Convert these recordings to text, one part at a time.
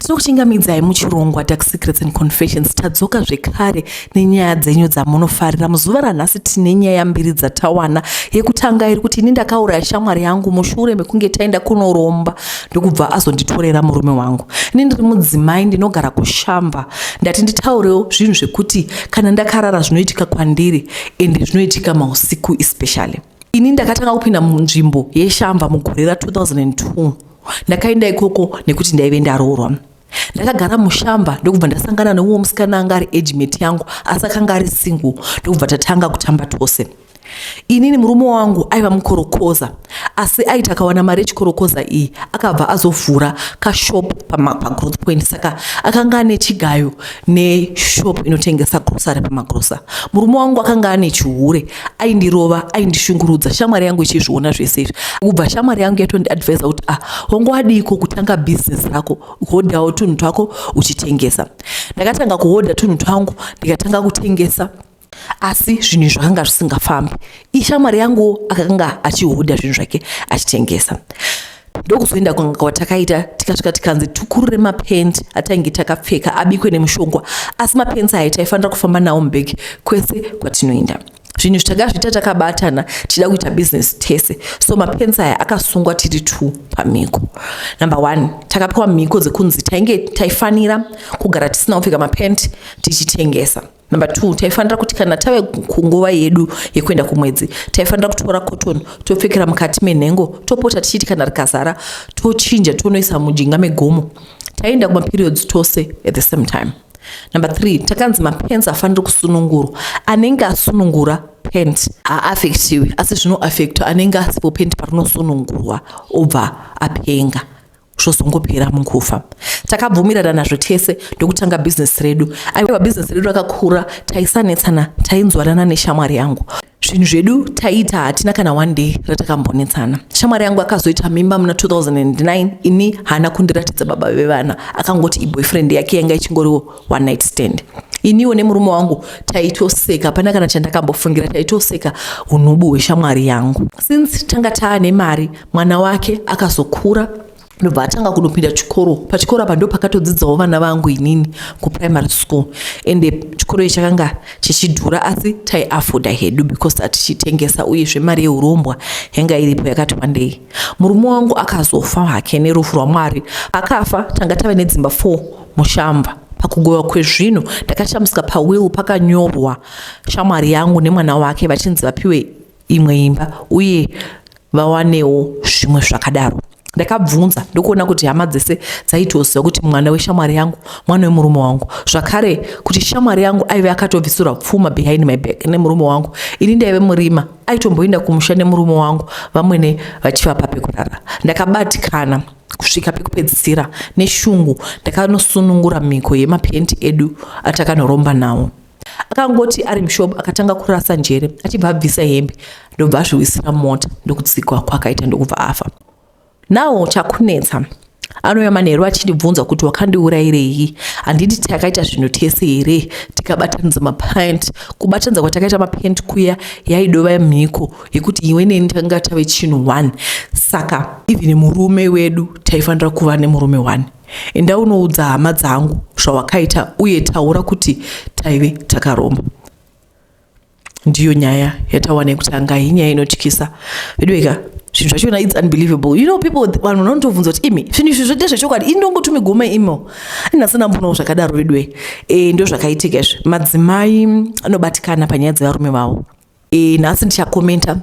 tinokuchingamidzai muchirongwa dark secrets and confessions tadzoka zvekare nenyaya dzenyu dzamunofarira muzuva ranhasi tine nyaya mbiri dzatawana yekutanga iri kuti ini ndakauraya shamwari yangu mushure mekunge taenda kunoromba ndokubva azonditorera murume wangu ini ndiri mudzimai ndinogara kushamba ndati nditaurewo zvinhu zvekuti kana ndakarara zvinoitika kwandiri ende zvinoitika mausiku especially ini ndakatanga kupinda munzvimbo yeshamba mugore ra 2002 ndakaenda ikoko nekuti ndaive ndaroorwa ndakagara mushamba ndokubva ndasangana neumwe musikana anga ari agement yangu asi akanga ari single ndokubva tatanga kutamba tose inini murume wangu aiva mukorokoza asi aiti akawana mari yechikorokoza iyi akabva azovhura kashop pagrowth point saka akanga ane chigayo neshop inotengesa grosary pamagrosa murume wangu akanga ane chihure aindirova aindishungurudza shamwari yangu ichizviona zvese izvi kubva shamwari yangu yatondiadvisa kuti ah hongo adiiko kutanga business rako hodhawo tunhu twako uchitengesa ndakatanga kuhodha tunhu twangu ndikatanga kutengesa asi zvinhu zvakanga zvisingafambi ishamwari yanguwo akanga achihodha zvinhu zvake achitengesa ndokuzoenda kun'anga kwatakaita tikasvika tikanzi tukurure mapent atainge takapfeka abikwe nemushongwa asi mapents aya taifanira kufamba nawo mubhegi kwese kwatinoenda zvinhu zvitakazviita takabatana tichida kuita business tese so mapensi aya akasungwa tiri two pamhiko number one takapiwa mhiko dzekunzi tainge taifanira kugara tisina kupfeka mapenti tichitengesa Number two, taifanira kuti kana tave kunguva yedu yekuenda kumwedzi taifanira kutora cotton topfekera mukati menhengo topota tichiti kana rikazara tochinja tonoisa mujinga megomo. Taienda kumaperiods tose at the same time. Number three, takanzi mapens afaniri kusunungurwa. Anenge asunungura pent haaffectiwi asi zvinoaffecta anenge asipo pent parinosunungurwa obva apenga. zvozongopera mukufa takabvumirana nazvo tese ndokutanga bhizinesi redu aiwa bhizinesi redu rakakura taisanetsana tainzwanana neshamwari yangu zvinhu zvedu taiita hatina kana one day ratakambonetsana shamwari yangu akazoita mimba muna 2009 ini haana kundiratidza baba vevana akangoti iboyfriend yake yanga ichingoriwo one night stand iniwo nemurume wangu taitoseka pana kana chandakambofungira taitoseka unubu hweshamwari yangu since tanga taane mari mwana wake akazokura ndobva atanga kunopinda chikoro pachikoro apa ndo pakatodzidzawo vana vangu inini kuprimary school ende chikoro ichi chakanga chichidhura asi taiafoda hedu because atichitengesa uyezve mari yeurombwa yanga iripo yakati wandei murume wangu akazofa hake nerufu rwamwari akafa tanga tave nedzimba four Mushamba. Pakugoiwa kwezvinhu ndakashamisika pawill pakanyorwa shamwari yangu nemwana wake vachinzi vapiwe imwe imba uye vawanewo zvimwe zvakadaro. Ndakabvunza ndokuona kuti hama dzese dzaitoziva kuti mwana weshamwari yangu mwana wemurume wangu zvakare kuti shamwari yangu aive akatobvisirwa pfuma behind my back nemurume wangu ini ndaive murima aitomboinda kumusha nemurume wangu vamwene vachivapa pekurara ndakabatikana kusvika pekupedzisira neshungu ndakanosunungura mhiko yemapendi edu atakanoromba nawo akangoti ari mushopu akatanga kurasa njere achibva abvisa hembe ndobva azviwisira mota ndokutsikwa kwakaita ndokubva afa nawo chakunetsa anouya manheru achindibvunza kuti wakandiurayirei handiti takaita zvinhu tese here tikabatanidza mapant kubatanidza kwatakaita mapant kuya yaidova mhiko yekuti iwe neni tanga tave chinhu one saka even murume wedu taifanira kuva nemurume one enda unoudza hama dzangu zvawakaita uye taura kuti taive takaromba ndiyo nyaya yatawana yekutanga hii nyaya inotyisa veduveka zvinhu zvachona its unbelievable you know people vanhu vanotobvunza kuti imi zvinhu izvi zvoita zvechokwadi inongotumigoma imo anasina mbonawo zvakadaro veduwe e, eh, ndo zvakaitika izvi madzimai anobatikana panyaya dzevarume vavo e, nhasi ndichakomenta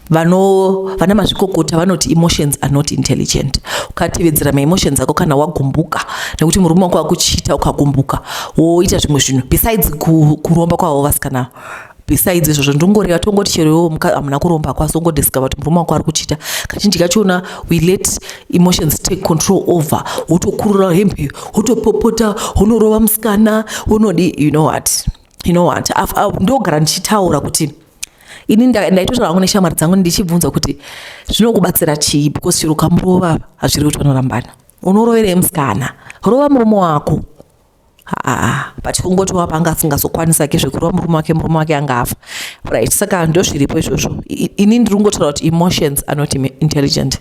vano vana mazvikokota vanoti emotions are not intelligent ukatevedzera maemotions ako kana wagumbuka nekuti murume wako akuchiita ukagumbuka woita zvimwe zvinhu besides kuromba kwavo vasikana besides izvozvo ndongoreva tongoti chero iwo hamuna kuromba kwaso ungodiscover kuti murume wako ari kuchita kazhinji kachiona we let emotions take control over wotokurura hembe wotopopota wonorova musikana wonodi you know what you know what ndogara ndichitaura kuti ini ndaitotaura hangu neshamwari dzangu ndichibvunza kuti zvinokubatsira chii because chero kamurova hazviri kuti vanorambana unoroverei musikana rova murume wako haa but kungoti wapa anga asingazokwanisa ke zvekurova murume wake murume wake anga afa right saka ndozviripo izvozvo ini ndiri kungotaura kuti emotions are not intelligent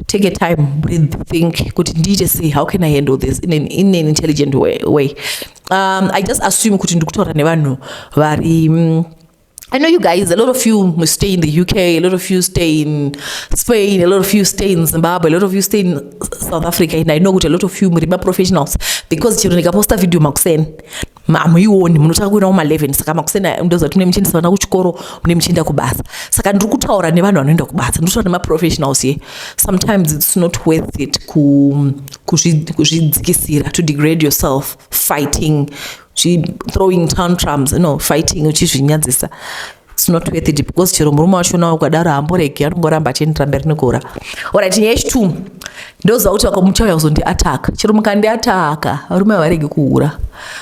take a time breathe think kuti ndiite sei how can i handle this in an, in an intelligent way, way. Um, i just assume kuti ndikutaura nevanhu vari mm, I know you guys, a lot of you stay in the UK, a lot of you stay in Spain, a lot of you stay in Zimbabwe, a lot of you stay in South Africa, and I know a lot of you, professionals, because chero ndikaposta video makuseni hamuioni munotanga kuenda kuma 11 saka makuseni ndoziva kuti mune muchiendesa vana kuchikoro mune muchienda kubasa saka ndiri kutaura nevanhu vanoenda kubasa ndiri kutaura nemaprofessionals ye sometimes its not worth it kuzvidzikisira to degrade yourself fighting throwing tantrums no fighting uchizvinyadzisa It's not worth it because chero murume wacho nawo ukadaro hamboregi anongoramba achiendera mberi nekuhura orit nyaya yechitu ndoziva kuti vakamuchauya kuzondiataka chero mukandiataka varume havaregi kuhura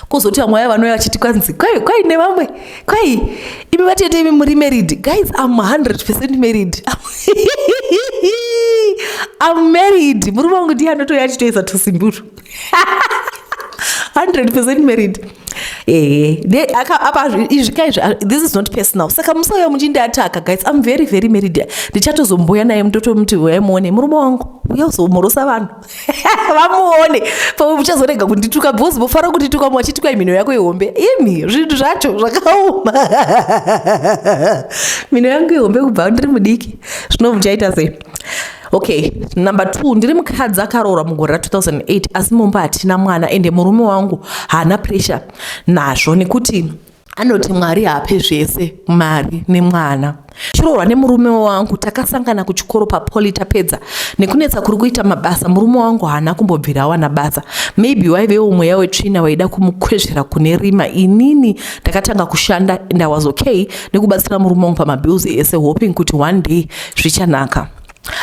kozoti vamwe vaya vanouya vachiti kwanzi kwai kwai nevamwe kwai imi vatete imi muri married guys am 100 percent married am married murume wangu ndiye anotouya achitoisa tusimbutu hundred percent married ehe eh, apa izvi ka izvi ah, this is not personal saka musauya muchindiataka guys im very very married ndichatozombuya naye mutotomuti uyai muone murume wangu uya uzomhorosa vanhu vamuone pamwe muchazorega kundituka because mofara kundituka mwachituka mhino yako ihombe imi zvinhu zvacho zvakaoma mhino yangu ihombe kubva ndiri mudiki zvino muchaita sei okay number two ndiri mukadzi akaroora mugore ra 2008 asi mumba hatina mwana ende murume wangu haana pressure nazvo nekuti anoti mwari haape zvese mari nemwana chiroorwa nemurume wangu takasangana kuchikoro papoli tapedza nekunetsa kuri kuita mabasa murume wangu haana kumbobvira awana basa maybe waivewo mweya wetsvina waida kumukwezvera kune rima inini ndakatanga kushanda and i was okay nekubatsira murume wangu pamabills ese hoping kuti one day zvichanaka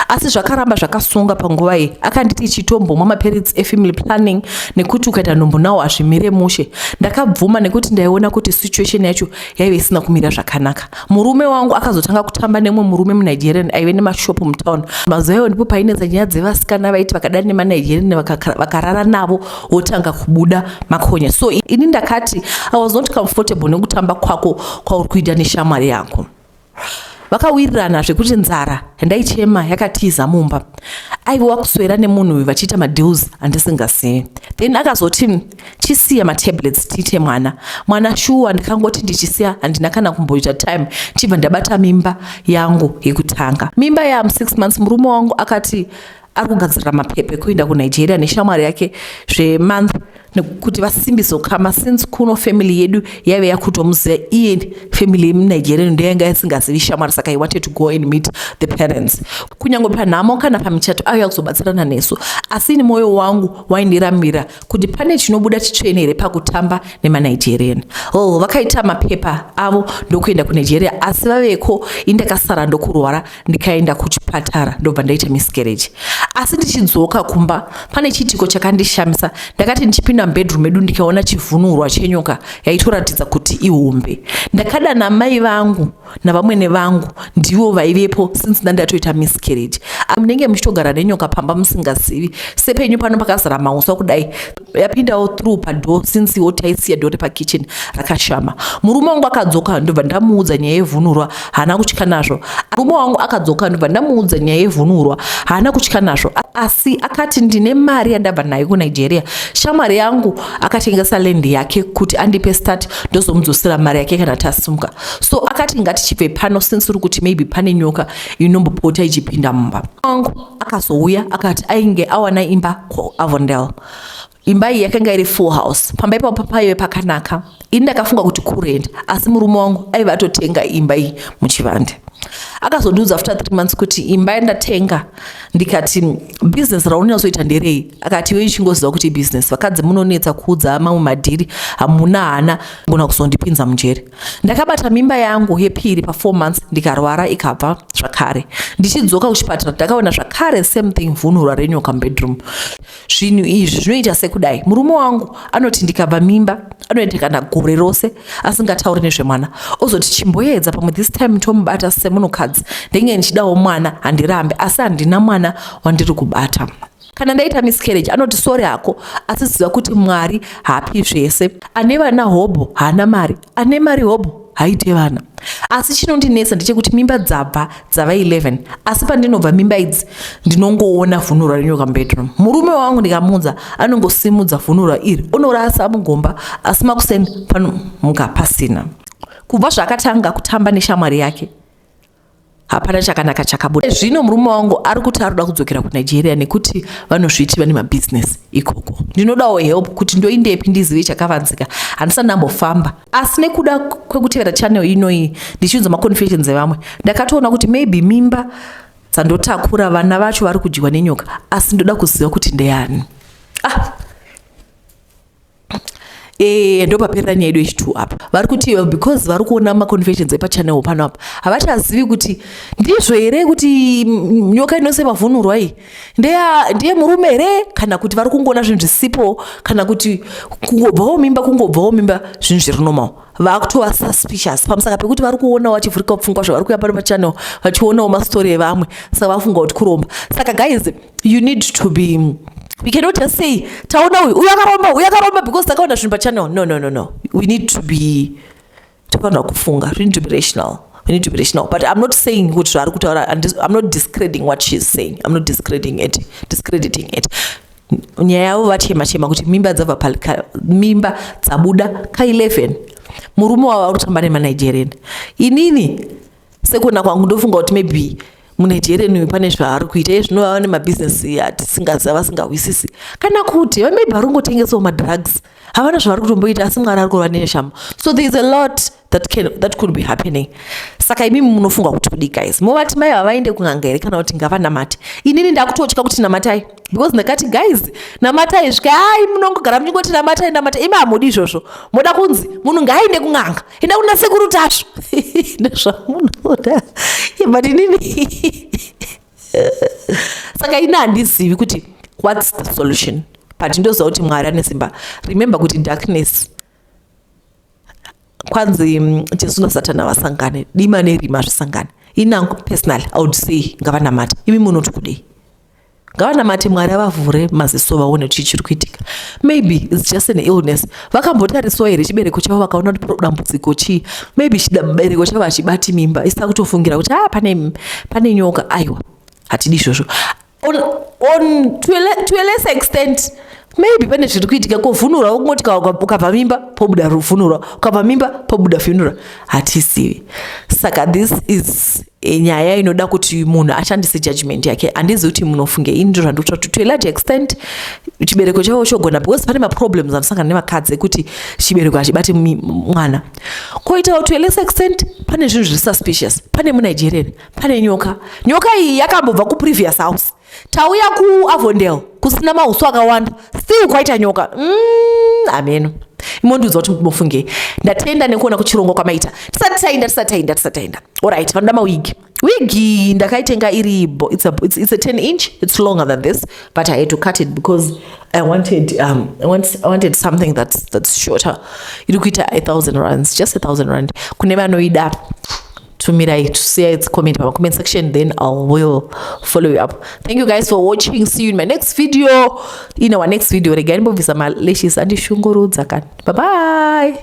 asi zvakaramba zvakasunga panguva iyi akanditi chitombomwa mapiritsi efamily planning nekuti ukaita nhombo nawo hazvimire mushe ndakabvuma nekuti ndaiona kuti situation yacho yaive isina kumira zvakanaka murume wangu akazotanga kutamba nemwe murume munigerian aive nemashopu mutown mazuva iwo ndipo painetsa nyaya dzevasikana vaiti vakadari nemanigerian vakarara navo wotanga kubuda makonya so ini ndakati i was not comfortable nekutamba kwako kwauri kuita neshamwari yako vakawirirana zvekuti nzara yandaichema yakatiza mumba aive wakuswera nemunhu uyu vachiita madeals andisingazivi then akazoti chisiya matablets tiite mwana mwana shuwa ndikangoti ndichisiya handina kana kumboita time chibva ndabata mimba yangu yekutanga mimba yam six months murume wangu akati ari kugadzirira mapepa ekuenda kunigeria neshamwari yake zvemonth nekuti vasimbise ukama since kuno family yedu yaive yakutomuziva iye family yemunigeria ndoyanga yasingazivi shamwari saka i wanted to go and meet the parents kunyange panhamo kana pamichato ayo yakuzobatsirana nesu asi ini mwoyo wangu waindiramira kuti pane chinobuda chitsvene here pakutamba nemanigerian oh vakaita mapepa avo ndokuenda kunigeria asi vaveko indakasara ndokurwara ndikaenda kuchipatara ndobva ndaita miscarriage asi ndichidzoka kumba pane chiitiko chakandishamisa ndakati ndichipinda mubedroom medu ndikaona chivhunurwa chenyoka yaitoratidza kuti ihombe ndakadana mai vangu navamwene vangu ndivo vaivepo since ndandatoita miscarriage munenge muchitogara nenyoka pamba musingazivi sepenyu pano pakazara mauswa kudai yapindawo through padoor since wo taisiya dore pakitchen rakashama murume wangu akadzoka ndobva ndamuudza nyaya yevhunurwa haana kutya nazvo murume wangu akadzoka ndobva ndamuudza nyaya yevhunurwa haana kutya nazvo asi akati ndine mari yandabva nayo kunigeria shamwari yangu akatengesa land yake kuti andipe start ndozomudzosera mari yake kana tasumuka so akati ngatichibve pano since uri kuti maybe pane nyoka inombopota ichipinda mumba wangu akazouya akati ainge awana imba kuavondel imba iyi yakanga iri full house pamba ipapo paive pakanaka ini ndakafunga kuti kurent asi murume wangu aive atotenga imba iyi muchivande akazondiudza after three months kuti imba yandatenga ndikati business raunyazoita nderei akati iwe ichingoziva kuti business vakadzi munonetsa kuudza mamwe madhiri hamuna hana gona kuzondipinza mujeri ndakabata mimba yangu yepiri pafour months ndikarwara ikabva zvakare ndichidzoka kuchipatara ndakaona zvakare same thing vhunhura renyoka mubedroom zvinhu izvi zvinoita sekudai murume wangu anoti ndikabva mimba anoita kana gore rose asingatauri nezvemwana ozoti chimboedza pamwe this time tomubata semunhukadzi ndenge ndichidawo mwana handirambe asi handina mwana wandiri kubata kana ndaita miscarriage anoti sori hako asi ziva kuti mwari haapi zvese ane vana hobho haana mari ane mari hobho haite vana asi chinondinetsa ndechekuti mimba dzabva dzava 11 asi pandinobva mimba idzi ndinongoona vhunurwa rinyoka mubedroom murume wangu ndikamunza anongosimudza vhunurwa iri onorasa mugomba asi makuseni panomuka pasina kubva zvaakatanga kutamba neshamwari yake hapana chakanaka chakabuda zvino murume wangu ari kuti ari kuda kudzokera kunigeria nekuti vanozviti vane mabhizinesi ikoko ndinodawo help kuti ndoindepi ndizive chakavanzika handisati ndambofamba asi nekuda kwekutevera channel inoyi ndichiunza maconfessions evamwe ndakatoona kuti maybe mimba dzandotakura vana vacho vari kudyiwa nenyoka asi ndoda kuziva kuti ndeyani ah Eh, ndopaperera nyaya yedu yechitwo apa vari kuti uh, because vari kuona maconfessions epachanel pano apa havachazivi kuti ndizvo here kuti mm, nyoka inose mavhunurwa iyi ndiye murume here kana kuti vari kungoona zvinhu zvisipo kana kuti kungobvawo mimba kungobvawo mimba zvinhu zviri normal vakutova suspicious pamusaka pekuti vari kuonawo vachivhurikawo pfungwa zvavari kuya pano pachannel vachionawo mastori evanwe saka vafunga kuti kuromba saka guys you need to be we cannot just say taona uyu uyu akaromba uyu akaromba because takaona zvinhu pachannel no no no no we need to be tofanira kufunga we need to be rational we need to be rational but i'm not saying kuti zvaari kutaura i'm not discrediting what she is saying i'm not discrediting it discrediting it nyaya yavo vachema chema kuti mimba dzabva mimba dzabuda ka 11 murume wavo ari kutamba nemanigerian inini sekuona kwangu ndofunga kuti maybe munigerian uyu pane zvaari kuita iye zvino vava nemabhizinesi atisingaziva vasingahwisisi kana kuti vamaybe vari kungotengesawo madrugs havana zvavari kutomboita asi mwari ari kurova neshamo so there is a lot that can that could be happening saka imimi munofunga kuti kudii guys movati mai vavaende kun'anga here kana kuti ngavanamate inini ndakutotya kuti namatai because ndakati guys namatai svika ai munongogara muchingoti namatai namata imi hamudi izvozvo moda kunzi munhu ngaaende kun'anga enda kuna sekuru tasvu ndozvamunoda but inini saka ini handizivi kuti whats the solution but ndoziva kuti mwari ane simba remember kuti darkness kwanzi mm, jesu nasatana vasangane dima nerima zvisangane inangu personal i would say ngavanamate imi munoti kudei ngavanamate mwari avavhure maziso vaone chii chiri kuitika maybe its just an illness vakambotariswa here chibereko chavo vakaona kuti dambudziko chii maybe chibereko chavo hachibati mimba isita kutofungira kuti a ah, pane, pane nyoka aiwa hatidi izvozvo on, on to, a, to a less extent maybe pane zviri kuitika kovhunura wokungoti ukabva mimba pobuda ruvhunura ukabva mimba pobuda vhunura hatisivi saka this is eh, nyaya inoda kuti munhu ashandise judgment yake handizi kuti munofunge ini ndiro zvandikuta kuti to a large extent chibereko chavo chogona because pane maproblems anosangana nevakadzi ekuti chibereko hachibati mwana koitawo to a less extent pane zvinhu zviri suspicious pane munigerian pane nyoka nyoka iyi yakambobva kuprevious house tauya kuavondel kusina mahuso akawanda still kwaita nyoka mm, ameno imondiudza kuti mofungei ndatenda nekuona kuchirongwa kwamaita tisati taenda tisati taenda tisati taenda orit vanoda mawigi wigi ndakaitenga iri bo it's a, it's, it's a 10 inch it's longer than this but i had to cut it because i wanted, um, I want, I wanted something that's, that's shorter iri kuita a thousand runs just a thousand rand kune vanoida tumirai tusiya its comment pa comment section then i will follow you up thank you guys for watching see you in my next video in our next video regai ndimbobvisa malashes andishungurudza kani bye bye